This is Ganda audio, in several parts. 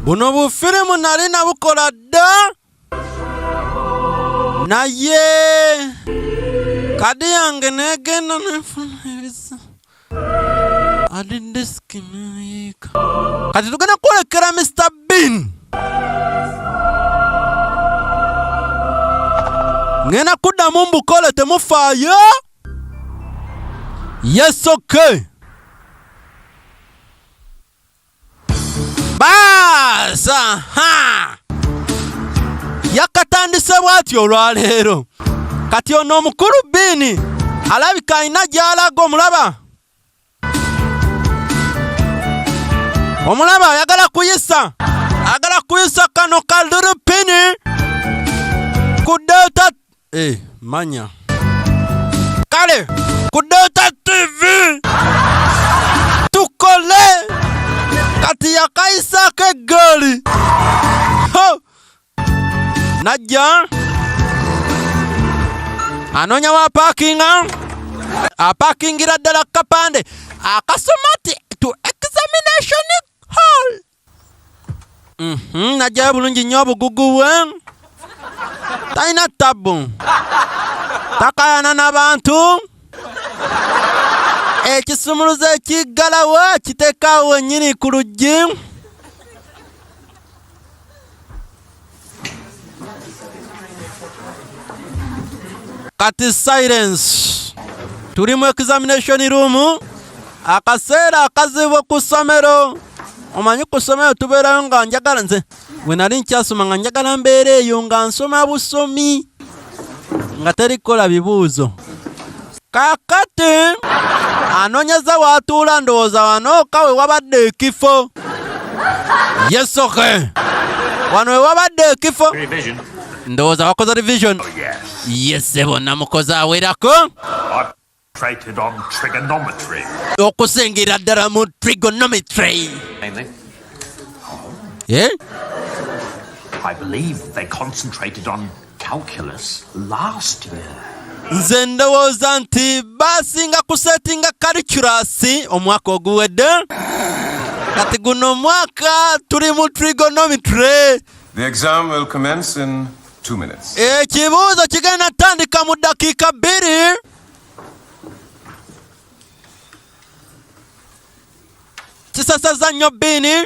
buno bufirimu nali nabukola dda naye kadi yange negenda nefuna ebisa adi disiki nayiika kati tugenda kwolekera mr bin ngenda kuddamu mbukole temufaayo yes okay baasa ha yakatandise bwati olwaleero kati ono omukulu biini alabika alina gy'alaga omulaba omulaba ayagala kuyisa agala kuyisa kano kaliripini ku data eh, manya kale ku data tv tukole kati yakayisaako eggaali najja anoonya wa paakinga apaakingira ddala ku kapande akasoma ti to examination hall mhm, najjayo bulungi nnyo obugugu bwe talina tabbu takayana n'abantu ekisumuluzo ekiggalawo kiteekaawo wennyini ku luggi kati silence tuli mu examination room akaseera akazibu ku ssomero omanyi ku ssomero tubeerayo nga njagala nze we nali nkyasoma nga njagala mbeera eyo nga nsoma busomi nga teri kukola bibuuzo Kakati anonyeza watuula ndowooza wano ka wewabadde ekifo yesoke wano wewabadde ekifo ndowooza wakoze revision oh, yesebo namukoze awerako okusingira ddala mu trigonometry eh? I believe they concentrated on nze ndowooza nti baasinga kusetinga kaliculasi omwaka oguwedde kati guno omwaka tuli mu trigonometry The exam will commence in two minutes. ekibuuzo kigenda tandika mu dakiika bbiri kisasazza nnyo bbiini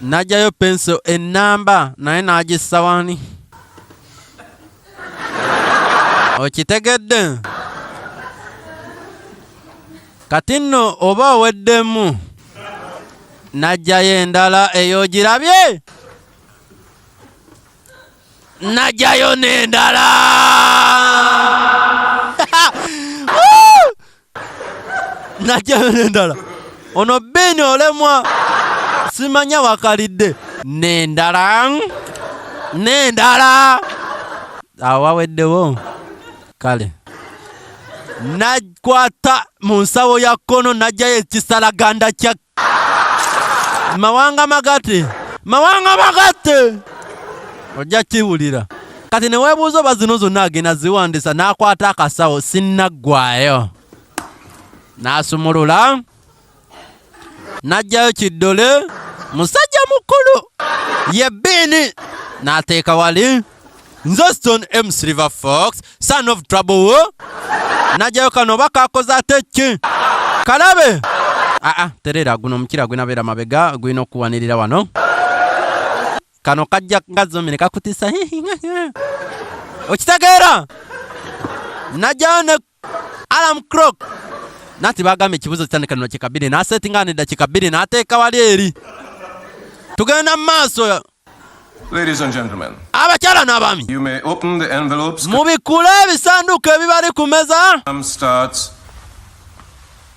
najayo penso enamba naye nagissa wani okitegedde kati nno oba oweddemu najjayo endala eyo ogirabye najjayo n'endala najjayo nendala ono beeni olemwa simanya wakalidde nendala nendala awaweddewo kale nakwata mu nsawo ya kkono najjayo ekisalaganda kya mawanga magatte mawanga magatte ojja kiwulira kati newebuuza oba zino zonna agenda ziwandisa n'akwata akasawo sinnaggwayo n'asumulula n'aggyayo kiddole musajja mukulu ye bbiini n'ateeka wali nze stone m silver fox son of trouble wo najayo kano oba kakoze ate ki kalabe aa ah, ah, terera guno omukira gwinabeera mabega gwina okuwanirira wano kano kajja ngazomire kakutisa okitegeera najayo ne alarm clock nati bagambye ekibuzo kitandika nino kika bbiri n'asetinga nedda kika bbiri n'ateeka wali eri tugenda mu maaso Ladies and gentlemen. Abakyala n'abaami. You may open the envelopes. Mubikule ebisanduuko ebibali ku meza. Starts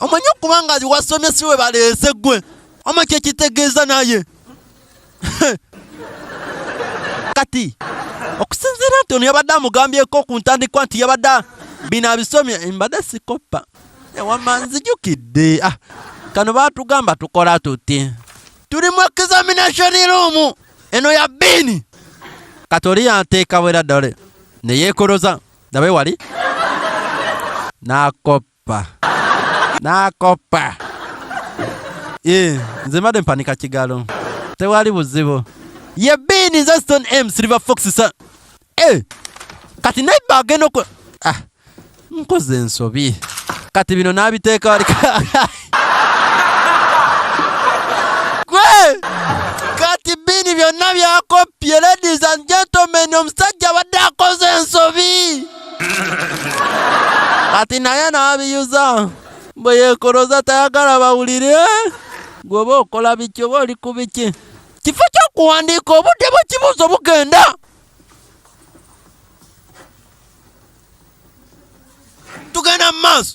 omanyi okuba nga wasomye si we baleese gwe oma kyekitegeeza naye kati okusinziira nti ono yabadde amugambyeko ku ntandikwa nti yabadde bino abisomye mbadde sikoppa ewama nzijukidde ah, kano batugamba tukola tuti tuli mu examination room eno ya bini kati oli yanteeka bwera dole neyekoloza nawe wali nakoppa nakoppa nakoppa eh, nze mbadde mpanika kigalo tewali buzibu ye bini nze stone m silver fox sa eh, kati naiba agenda oku ah, nkoze ensobi kati bino nabiteeka wali gwe kati bini byonna byakoppye ladies and gentlemen omusajja abadde akoze ensobi kati naye n'abiyuza bwe yeekoloza tayagala bawulire gweoba okola biki oba oli ku biki kifo ky'okuwandiika obudde bw'ekibuuzo bugenda tugenda mu maaso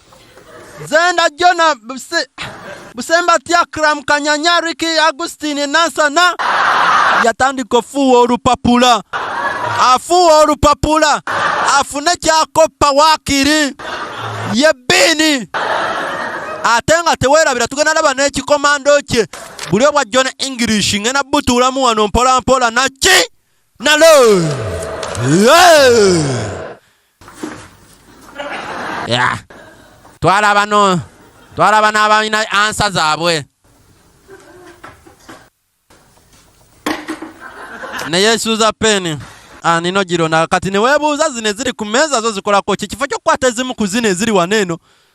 Zenda Jona Buse, Busemba Tiakram Kanyanyariki Agustini Nansana yatandika ofuuwa olupapula afuuwa olupapula afune kyakoppa waakiri ye bbiini ate nga teweerabira tugenda laba n'ekikomando kye buli obwa john english ngenda butuulamu wano mpolampola naki nalo yeah. Yeah. Twala bano, twala bano abalina ansa zaabwe. Naye suuza peni anino ah, girona kati newebuuza zino eziri ku meeza zo zikolako ki kifo kyokukwata ezimu ku zino eziri wano eno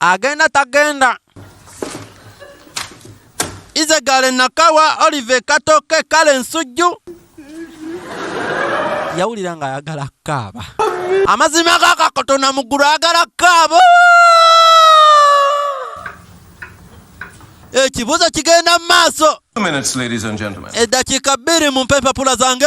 agenda tagenda izegale nakawa olive katoke kale nsujju yawulira nga ayagala kaaba amazima gakakotona mugulu ayagala kaaba ekibuzo kigenda mu maaso eddakiika bbiri mumpe empapula zange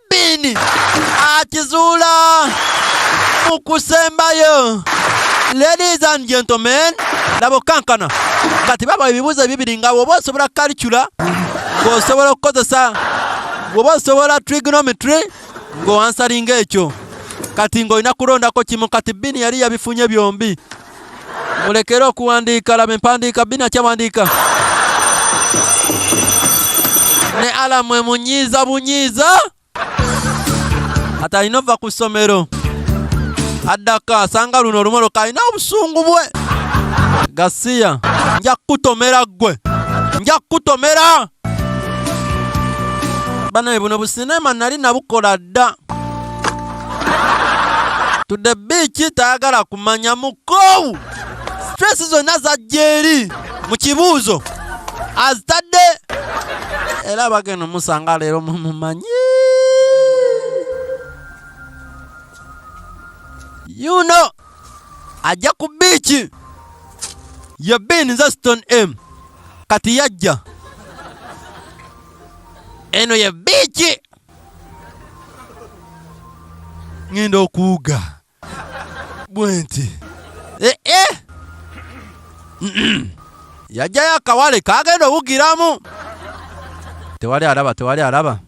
Sabbiini akizuula mu kusembayo. Ladies and gentlemen, laba okankana kati baba ebibuuzo ebibiri nga woba osobola kalicula ng'osobola okukozesa woba osobola trigonometry ng'owansalinga ekyo kati ng'olina kulondako kimu kati bini yali yabifunye byombi mulekere okuwandiika laba empandiika bina kyawandiika ne alamu emunyiiza bunyiiza ati alina ova ku ssomero addako asanga luno olumoloka alina obusungu bwe gasiya nja kukutomera ggwe nja kukutomera banaye buno businema nali nabukola dda tudde biiki tayagala kumanya mukoowu stress zonna zajja eri mu kibuuzo azitadde era bagenda omusanga leero mumumanyi you know ajja ku biiki ye bin nze stone m kati yajja eno ye biiki ŋenda okuwuga bwenti ee eh, eh. yajjayo akawale kagenda owugiramu tewali alaba tewali alaba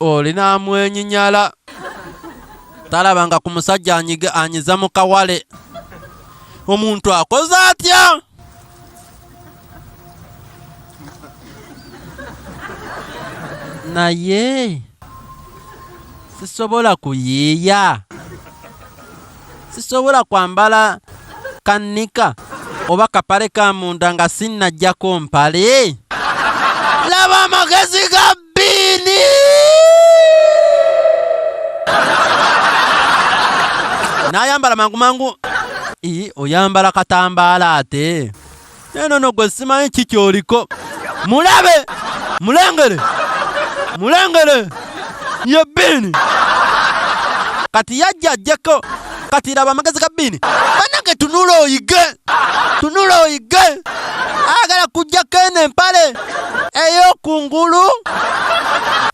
olina amwenyinyala talaba nga ku musajja anyiza mu kawale omuntu akoze atya naye sisobola kuyiiya sisobola kwambala kannika oba kapale ka munda nga sinnajjako mpale laba amagezi ga Bini! Nayambala mangu mangu. Ii, oyambala katambala ate. Neno no gwe simanyi kiki oliko. Mulabe! Mulengere! Mulengere! Ye bini! Kati yajja ajjeko. kati laba amagezi ga biini banange tunula oyige tunula oyige agala kujjako eno empale ey'okungulu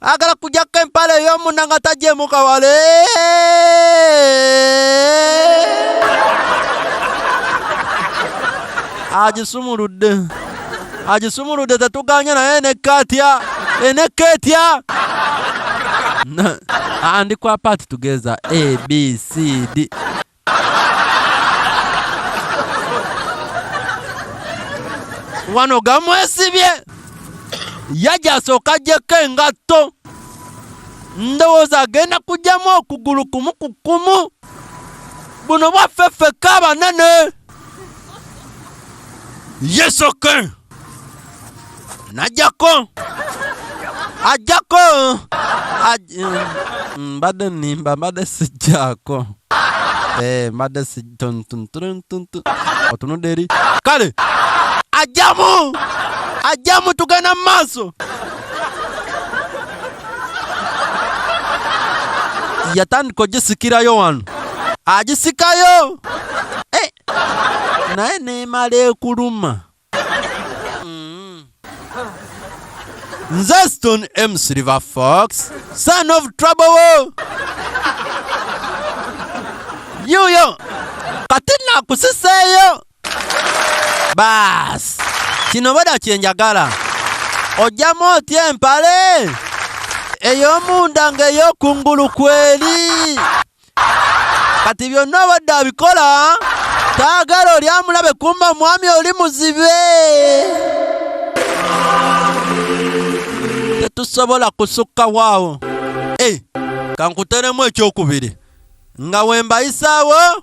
agala kujjako empale ey'omunda nga tajjemuka wale agisumuludde agisumuludde tetuganye naye enekka atya enekka etya andi kwa paati tugeza abcd wano gamwesibye yajja asooka ajjeko engatto ndowooza agenda kujjamu okugulu kumu ku kumu buno bwaffe ffekka abanene yesoke najjako ajjako mm, mbadde nimba mbadde sijjako eh, mbadde sitontuntuntuntu otunudde eri kale ajjamu ajjamu tugenda mu maaso yatandika ogisikirayo wano agisikayo eh, naye nemala ekuluma mm. nze stone m silver fox son of trouble yuyo kati nakusiseeyo baasi kino bweda kyenjagala ojjamu otya empale ey'omunda ng'ey'okungulu kweri kati byonna obadde abikola taagala oli amulabe kumba omwami oli muzibe tetusobola kusukka waawo e eh, kankuteremu ekyokubiri nga wembayisaawo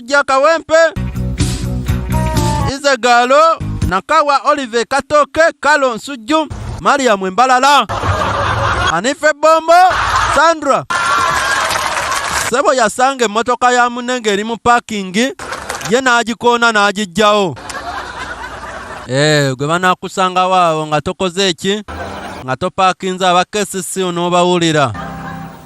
Sujja Kawempe, Ize Galo, Nakawa Olive Katoke, Kalo Nsujju, Mariam Mbalala, Anife Bombo, Sandra Sebo yasanga emmotoka ya munne ng'eri mu paakingi ye n'agikoona n'agiggyawo. Eh, gwe banaakusangawo awo nga tokoze eki nga topaakinze aba KCC onoobawulira.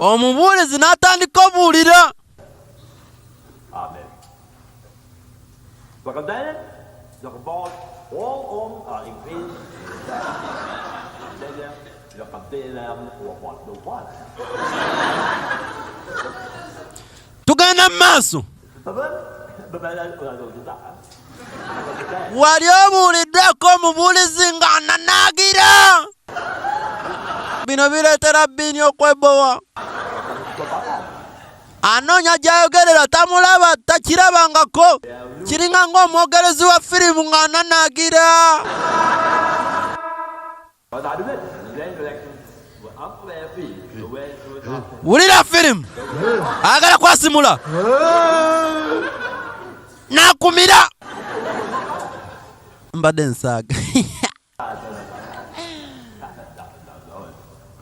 omubuulizi n'atandika obuulira tugenda mu maaso wali obuuliddeko omubuulizi nga ananaagira bino bireetera bbiini okwebowa anoonya gy'ayogerera tamulaba takirabangako kiringa ng'omwogerezi wa firimu ng'ananaagira wulira firimu ayagala kwasimula nakumira mbadde nsaaga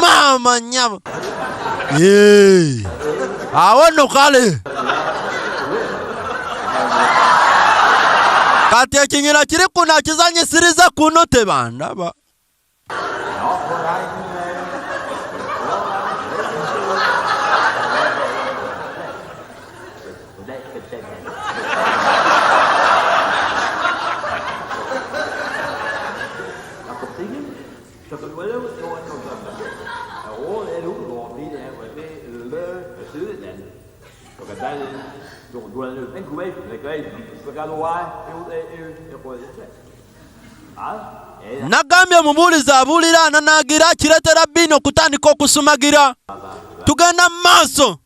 maama nyabo awo no kale kati ekinyira kiri kuno akizanyisiriza kuno tebandaba Nagambye omubuulizi abuulira ananaagira kireetera bbiini okutandika okusumagira. Tugenda mu maaso.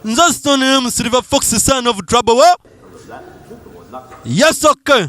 Nze sitonere mu Silver Fox son of trouble. Yes, okay.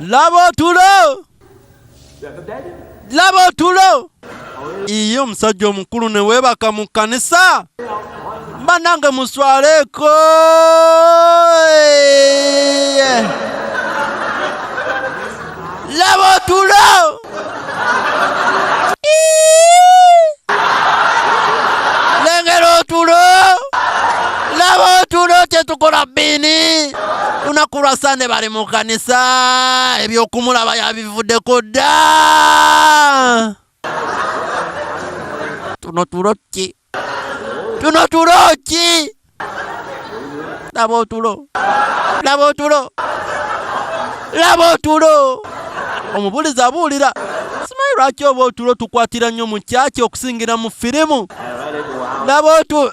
Laba otulo! Laba otulo! Iyo omusajja omukulu ne weebaka mu kkanisa! Banange muswaleeko! Laba otulo! lengera otulo laba otulo kyetukola bini lunaku lwa sande bali mu kanisa ebyokumulaba yabivuddeko dda tuno tulo ki Tuno tulo ki? Laba otulo. Laba otulo. Laba otulo. Omubulizi abuulira. Simanyi lwaki oba otulo tukwatira nnyo mu kyaki okusingira mu firimu. Laba otulo.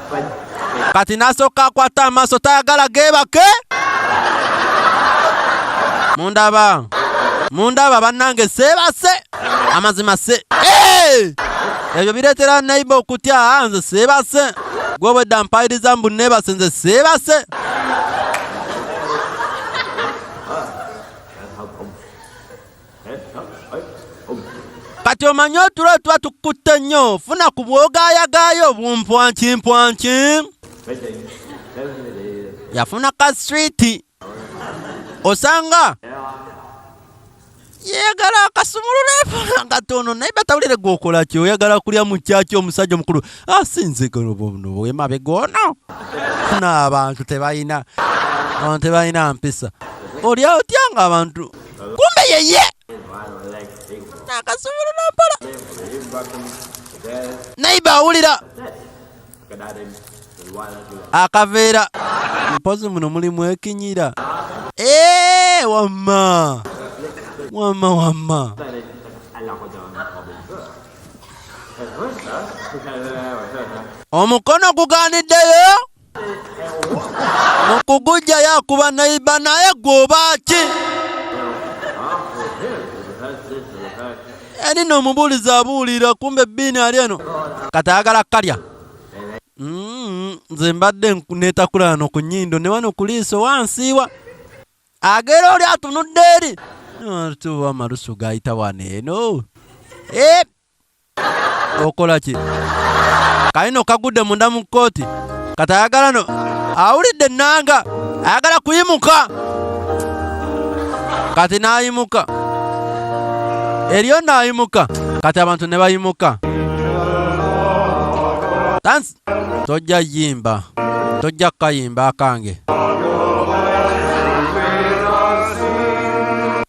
kati nasooka akwata amaaso tayagala geebake mundaba mundaba bannange seebase amazima se ebyo bireetera naiba okutya ah, nze seebase gwobwedda mpayiriza mbu neebase nze seebase kati omanyi otulo tuba tukutte nnyo funa ku bwogaayagaayo obumpwankimpwanki yafuna ka switi osanga yeyagala akasumulula efuna katono naye batawulire gwokola ki oyagala kulya mukyaki omusajja omukulu asinzegolobwemabegono ah, funa abantu tebalina abantu tebalina mpisa olya otya nga abantu kumbe yeye nakasubira nampala naiba awulira akaveera mpozi muno mulimu ekinyira eh, wamma wamma wamma omukono gugaaniddeyo mukugujja yakuba naiba naye gwoba ki eni eh, nomubuulizi abuulira kumbe ebbiini ali eno kati ayagala kalya mm, nze mbadde netakulano ku nyindo ne wano kuliiso wansiiwa agera oli atunudde eri tuba amalusu gayita wano eno eh, okola ki kalino kagudde munda mu kkooti kati ayagala no awulidde ennanga ayagala kuyimuka kati n'ayimuka eriyo n'ayimuka kati abantu ne bayimuka tansi tojja yimba tojja kukayimba akange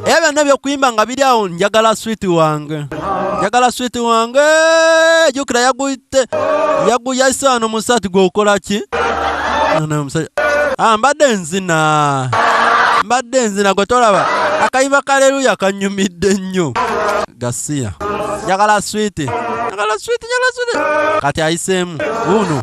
Ebyo byonna ebyokuyimba nga biri awo njagala switi wange njagala switi wange jukira yaguyite yaguyayise wano musati gwokola ki ah, mbadde nzina mbadde nzina gwe tolaba akayimba kaleluya kanyumidde nnyo gasiya njagala switi njagala switi njagala switi kati ayiseemu wuuno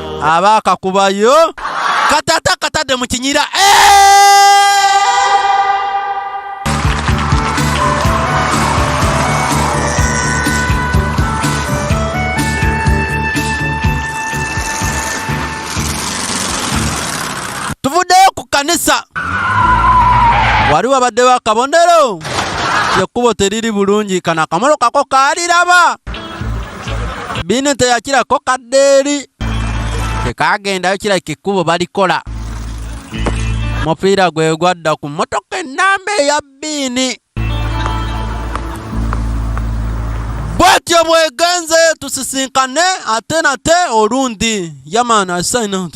aba akakubayo katata katadde mu kinyira tuvuddeyo ku kanisa wali wabaddewo akabonero ekkubo teriri bulungi kana akamolo kako kaaliraba bino teyakirako kaddeeri tekaagendayo kirabika ekkubo balikola mupiira gwe gwadda ku mmotoka ennamba eya bbiini bwetyo bwegenze tusisinkane ate nate olundi yamana sign out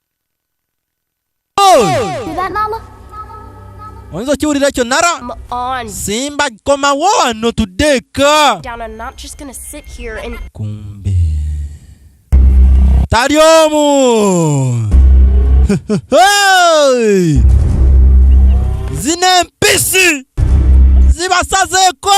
oyinza okiwulira ekyo nara simba komawo wano tuddeeka kumbe tali omu zino empisi zibasazeeko